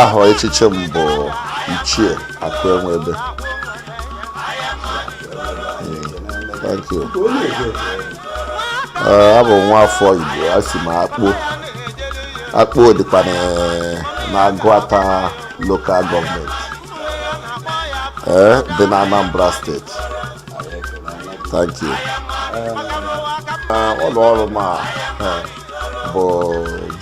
aha echichi m bụ ichie akụ enwe ebe thank you eh, abụ m nwa afọ igbo a si m akpo akpo dịkwa n'agụata lokal gọọmenti eh, dị na anambra steeti thank you eh, ụlọ ọrụ m bụ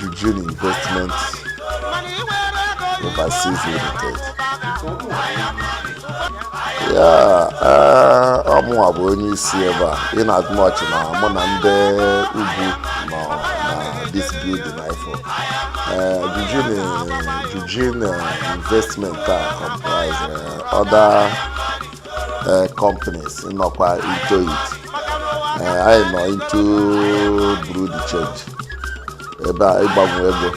Jujin Investment Overseas Limited ya ọ mụwa bụ onye isi ebe a inasmuch na mụ na ndị ugwu nọ na this building ifo Jujin Jujin Investment a comprise other uh, companies nọkwa into it. Uh, anyị nọ into bureau de change. Ebe a ịgbanwe ego.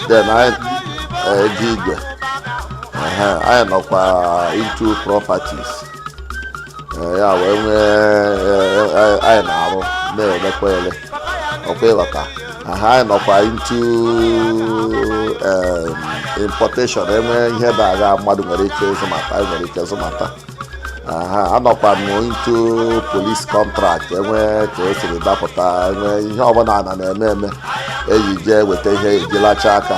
Then anyị uh, ego igwe. Uh, anyị nọkwa uh, into properties. Uh, ya wee nwee uh, anyị na-arụ na-elekwa ele ọ kwa ị ghọta ha nọkwa into um, importation enwee ihe na-aga mmadụ nwere ike ịzụmata anyị nwere ike ịzụmata aha anọkwa m into police contract enwee ka o siri dapụta enwee ihe ọbụla a na-eme eme e ji jee weta ihe e ji lacha aka